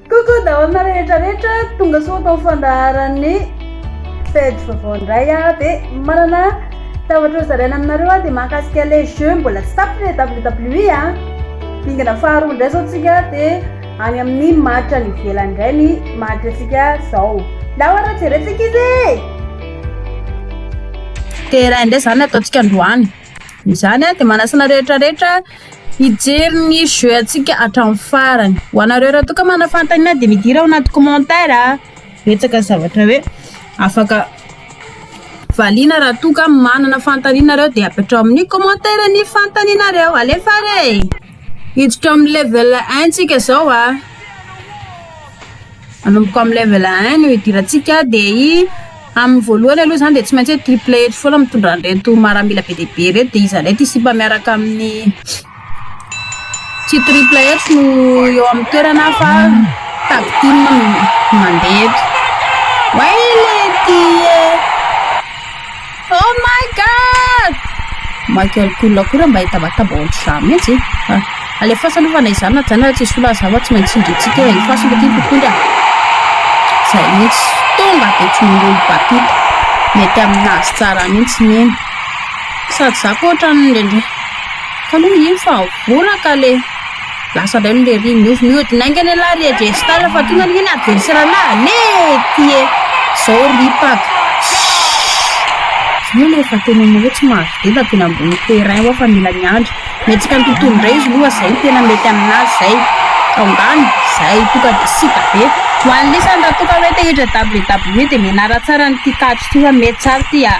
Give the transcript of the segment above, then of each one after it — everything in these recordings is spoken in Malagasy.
Coucou daholo rehetra rehetra tonga soa tao fandaharan'ny page vaovao indray a de manana zavatra ho zaraina aminareo a de mahakasika le jeu mbola tsy tapitra le WWE a dingana faharoa indray zao tsika de any amin'ny maritra ny ivelany indray ny maritra tsika zao la oara jerentsika izy e de raha indray zany ataontsika androany Izany aho dia manasa anareo rehetra rehetra hijery ny jeu antsika hatramin'ny farany. Ho anareo raha toa ka manana fanontaniana dia midira ao anaty commentaire a. Betsaka zavatra hoe afaka valiana raha toa ka manana fanontaniana ianareo dia apetraho amin'ny commentaire ny fanontanianareo. Alefa re e! Hiditra amin'ny level un tsika zao a. Manomboka amin'ny level un no hidirantsika dia i amin'ny voalohany aloha zany dia tsy maintsy hoe triple eto foana mitondra an'ireto maramila be dia be ireto dia iza indray ty sipa miaraka amin'ny tsy triple eto no eo amin'ny toerana fa tag team no mandeha eto. Way lety e. Oh my God! Michael Cool koa raha mba hita vatabo ao an-trizà mihitsy e. Ah, alefasa aloha fa na izany na izany raha tsy hisy olona aza tsy maintsy tsindrintsika e. Alefasa aloha ity mpitondra. Izay mihitsy. Tonga dia tsy mirolo batita. Mety aminazy tsara mihitsy ny iny. Sady za koa ohatran'ny indraindray. Ka aloha ino fa mbola ka le. Lasa indray ny lery, niovy mihodina haingana ialahy ry Adriestal fa tonga ange ny adversaire-na, nety e! Zao ry Paga, Shhh! Zao efa tena anao tsy mahazo denda teny ambony terrain hoa fa mila miandry, mihetsika ny tontolo indray izy aloha, zay ny tena mety aminazy zay, ka angano, zay toka dia sita be. Ho an'i Lisany raha toka hoe te hiditra WWE dia mianara tsara an'ity tatitra ity fa mety tsara ity ah.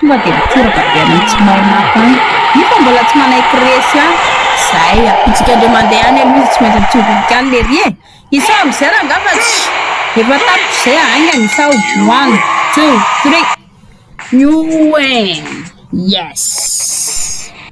Tonga dia mitoraka be any amin'ny tsy mahay mafy any. Io fa mbola tsy manaiky resy any. Zay a. Bitsika ndray mandeha any aloha izy tsy maintsy mitsovinika any lery e! Isao amzay rangaba tsy efa tapitra zay aingana isao. One, two, three. Youen! Yes!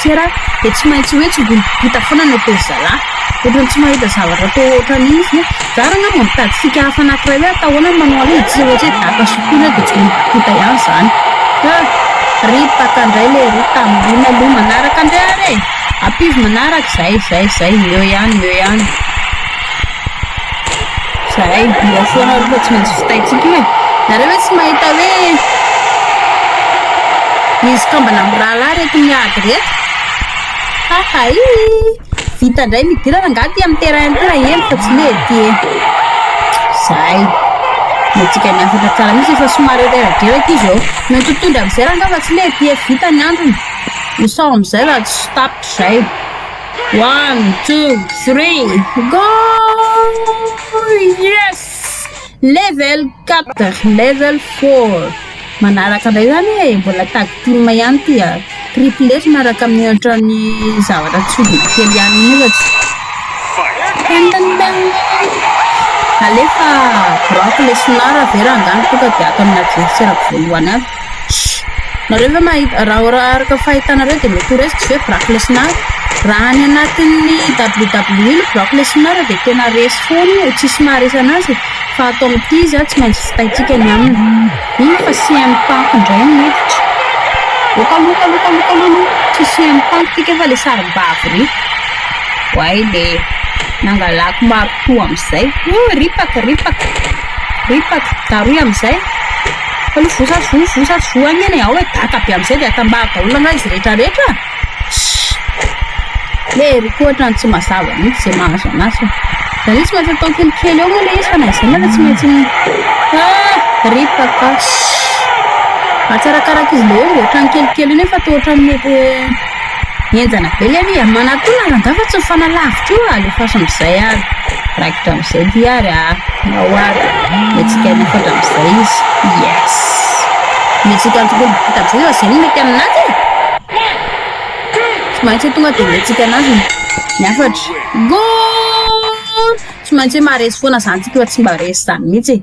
Fiera dia tsy maintsy hoe tsy ho vita foana na teo zalahy. Ohatran'ny tsy mahita zavatra atao ohatran'io izy. Zara angamba mitady fika hafa anankiray hoe atao ahoana ny manao an'io dia tsy iza mihintsy hoe daka sy kona dia tsy ho vita ihany izany. Ka rip aka ndray le ry tambohina aloha manaraka ndray ary e! Ampivo manaraka izay izay izay eo ihany eo ihany. Zahay hira foana aloha tsy maintsy vitaintsika io e. Nareo ve tsy mahita hoe misy kambana mirahalahy ireto miady ireto? Hahay! Vita indray ny hidirana angaha aty amin'ny terrain ity raha eny fa tsy hoe ety e. Zahay miantsika ny hafatra tsara mihitsy fa somary reradreraka izy eo. Mety ho tondra amin'izay rangahy fa tsy hoe ety e. Vita ny androny. Ho sao amin'izay raha tsy tapitra izay. One, two, three, go! Yes! Level 4, level 4. Manaraka indray zany e, mbola tag team ihany ty a. Triplet miaraka amin'ny ohatran'ny zavatra tsy biby kely ihany ohatra. Alefa drop le sonara avy eo rangahy tonga dia ato aminà jefy sy raha voalohany avy. Nareo ve mahita raha araka ny fahitanareo dia mety ho resty ve Brock Lesnar? Raha any anatin'ny WWE ny Brock Lesnar dia tena resy foana io, tsisy maharesy anazy fa ato amin'ity izy tsy maintsy vitantsika ny aminy. Mino aho fa CM Punk indray no miditra. Loka loka loka loka aloha aloha tsy CM Punk ty kay fa ilay sarimbavy iry. Oay le nangalako marotoa amin'izay. Ripaka ripaka ripaka. Darohy amin'izay. Allo voa sady voa voa sady voa anie ny ao e daka be amzay de atambaro daholo angaha izy rehetra rehetra a! Ssy! Le eric ohatrany tsy mazava mihitsy ze mahazo anazy fa za le tsy maintsy atao kelikely eo moa le izy fa na izany aza tsy maintsy mi ah! Rip kaka ssy! Atsarakaraka izy le omby ohatrany kelikely io nefa toa ohatrany mety Henjana be le ry Amana koa lalandava fa tsy mifanalavitra io alefaso amizay ary raikitra amizay ty ary aa nao ary mihetsika ery fatra amizay izy yes mihetsika tokoa vita amizay fa zay no mety aminazy e tsy maintsy tonga de mihetsika anazy ny hafatra goal tsy maintsy maharesy foana zany tsika fa tsy mba resy zany mihitsy e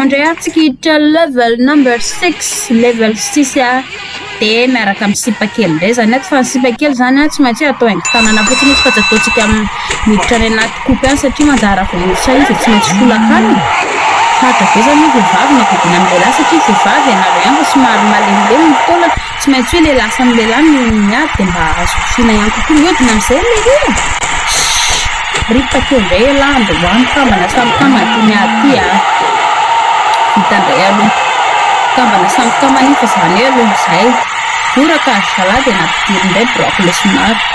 Andray ary tsika hiditra level number six, level six a, de miaraka amin'ny sipa kely indray zany ato fa ny sipa kely zany a tsy maintsy atao haingo tanana fotsiny izy fa tsy ataontsika miditra any anaty kopy any satria manjary raha vao miditra any izy de tsy maintsy folakanina, sarotra be zany ny vehivavy ny adidiana ny lehilahy satria vehivavy ianareo ihany fa somary malemilemy ny taolana. Tsy maintsy hoe lehilahy samy lehilahy no miady dia mba azo kofina ihany kokoa ny hodiny amin'izay ilay hira. Shhh! Ry takeo indray elah mba ho any kambana samy kamana ity miady ity a! Vita indray aloha. Kambana samy kamana iny fa izany hoe aloha izay. Voraka azo zalahy dia nampidiriny indray biraoko lesy maro.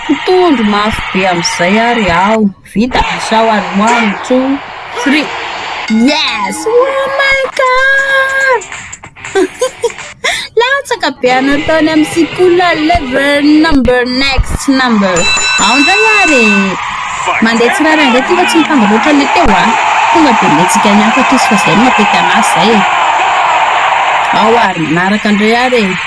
Mpitondro mafy be amizay ary aho. Vita sao ary ho any two three yes oh my god latsaka be anao tany am sikula level number next number ao ndray ary mandeha tsy rara ndray ty fa tsy mifango loatra le teo a tonga de letsika ny hafa toy fa zay matety anazy zay e ao ary manaraka ndray ary e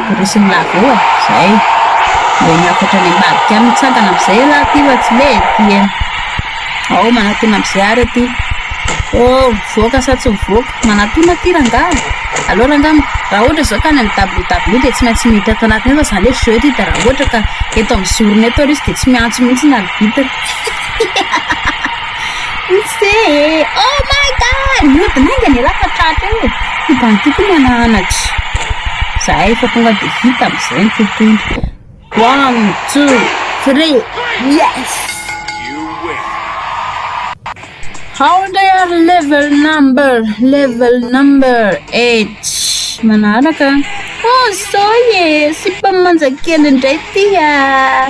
Noresiny Lago e! Zay! Mba hiakatra any ambadika any mitsangana amizay ialahy ty fa tsy mety ty an! Ao manatona amizay ary aty! Oh mivoaka sa tsy mivoaka? Manatona aty rangahy! Aleo rangahy raha ohatra zao ka any am ww de tsy maintsy miditra ato anatiny ato zany hoe jeu ty de raha ohatra ka eto am zorony eto ary izy de tsy miantso mihitsy ny arbitre! Hihihihi! Fotsy e! Oh my God! Mihodina enga ny rà fa tratra eo e! Ity bandy ity koa miala anatra. Za efa tonga dia vita amin'izay ny tontolo. One, two, three, yes! How they are level number, level number eight. Manaraka. Oh, soy e! Sipa manjakely indray ity ah!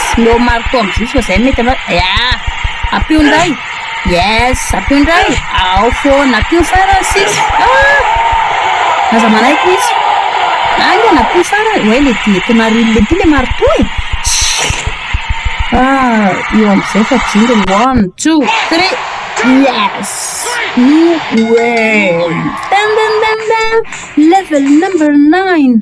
Aleo marto amin'ny jiosy fa zay no mety anao ya! Ampio indray! Yes! Ampio indray! Ao foana! Ampio farany sisa! Ah! Aza manaiky mihitsy! Aingana! Ampio farany! Oay le ty tonaril le ty le marto e! Shhh! Ah! Eo amin'izay fa jinga ny one, two, three! Yes! No way! Dan dan dan dan! Level number nine!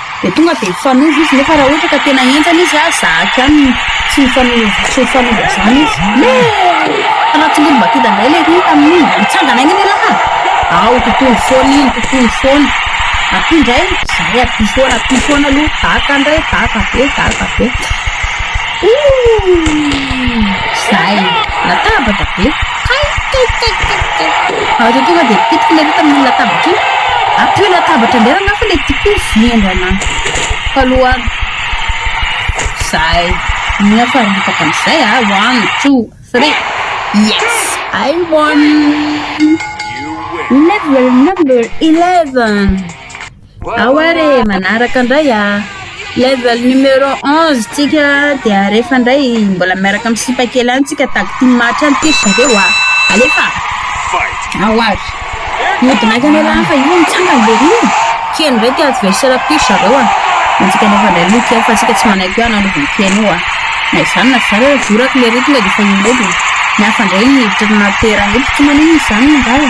Dia tonga dia mifanova izy nefa raha ohatra ka tena henjana izy ary zahako ihany no tsy mifanova tsy mifanova izany izy. Me! Raha tsy mbola mba tonga indray ilay rohy tamin'iny mba nitsangana aina ny raharaha! Ao tontolo foana iny tontolo foana. Aty indray izahay aty foana aty foana aloha daka indray daka be daka be. Ouh! Zay! Latabatra be. Ary io tonga dia pitiky ilay vita amin'ny latabatra iny. Ato io latabatra indray raha fa ilay tiako iny vendrana faloany. Izay. Ny aho fa ripaka amin'izay a. Ah. One, two, three. Yes! I won! Level number 11! Ao ary e, manaraka indray a! Level numéro onze tsika dia rehefa indray mbola miaraka amin'ny sipa kely any tsika tag team match any ty ry zareo a! Alefa! Ao ary! Mihodina hatrany aloha an, fa io mitsangana be io! Kely indray ty adversaire ty ry zareo a! Antsika nefa indray aloha kely fa antsika tsy manaiky io ananovan'ny kely io a! Na izany na izany ary voraka ilay retina dia efa io indray dia ny hafa indray ny hiditra anaty terrain io, mpikambana io moa izany no angala!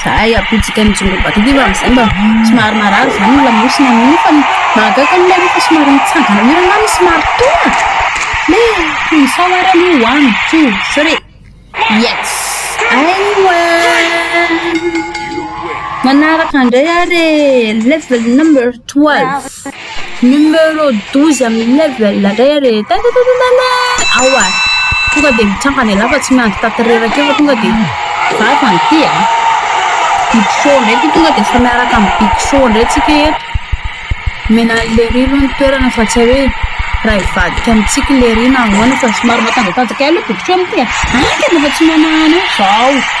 Zahay ampitsika ny Junglebato ity fa amin'izay mba somary marary izany ny lamosina amin'iny fa ny mahagaga aloha ilay hoe efa somary mitsangana mihira na ny somary tona le sao ary aloha one two three yes aiwa manaraka indray ary e level number twelve Numéro douze amin'ny level indray re tantatantantantan ao a tonga dia mitrangana ialahy fa tsy miandry tato reraka eo fa tonga dia vava ny ity a big show indray ity tonga dia efa miaraka amin'ny big show indray tsika eto omena an'i lery aloha ny toerana fa tsy hoe raha hivadika amintsika i lery na ahoana fa somary matanjatanjaka ihany aloha big show amin'ity a any tena efa tsy manahana eo izao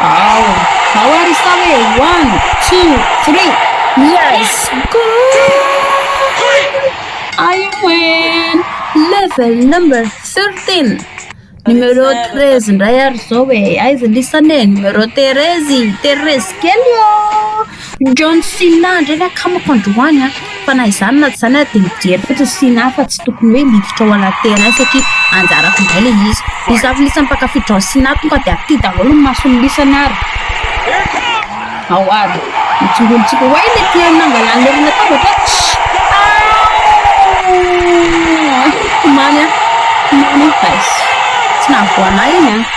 Ao, ao ary izy tao e! One, two, three, yes! I win! Level number thirteen! Numero treize indray ary izao e! Aiza lisany e? Numero Terezy! Terezy kely ô! Indreo ny sina indreo ny akamako androany an! Fa na izany na tsy izany ary dia mijery fotsiny ny sina fa tsy tokony hoe miditra ao anaty terrain satria anjarako indray ilay izy. Ny za milisany mpankafy drao sina tonga dia aty daholo ny maso ny lisany ary ao ary ny tsongonintsika oay ilay mpihaino nangalà an'ilay olona latabatra an! Aouu! Tomany an! Tomany an! Aiss! Tsy nahavoa anah iny an!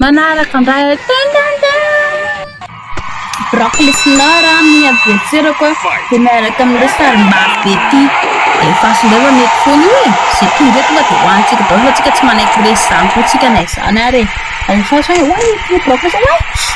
Manaraka indray aho. Ding, ding, ding. Broccoli fleur a, amin'ny adversaire-ko a, dia miaraka amin'ilay sarimbavy be ity. Dia efface indray fa mety foana io e. Izay tonga eto tonga dia hohanintsika daholo fa tsika tsy manaiky resy izany koa tsika na izany ary e. Efface hoe, oay, ity broccoli izany, oay.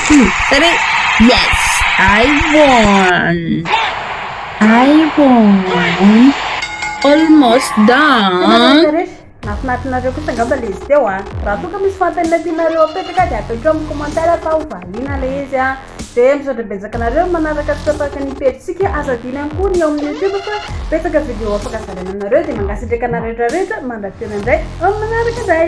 two, three, yes! I won! I won! Almost done! Nafinatinareo kosa angamba le izy teo an! Raha toa ka misy fanontaniana tianareo apetraka dia ataoko amin'ny commentaire fa ho valiana le izy an! Dia misaotra betsaka anareo manaraka antsika tahaka ny pejintsika, aza adino ihany koa ny ao amin'ny youtube fa betsaka video afaka zaraina aminareo dia mangasitraka anareo rehetra rehetra mandra-pihaona indray amin'ny manaraka indray!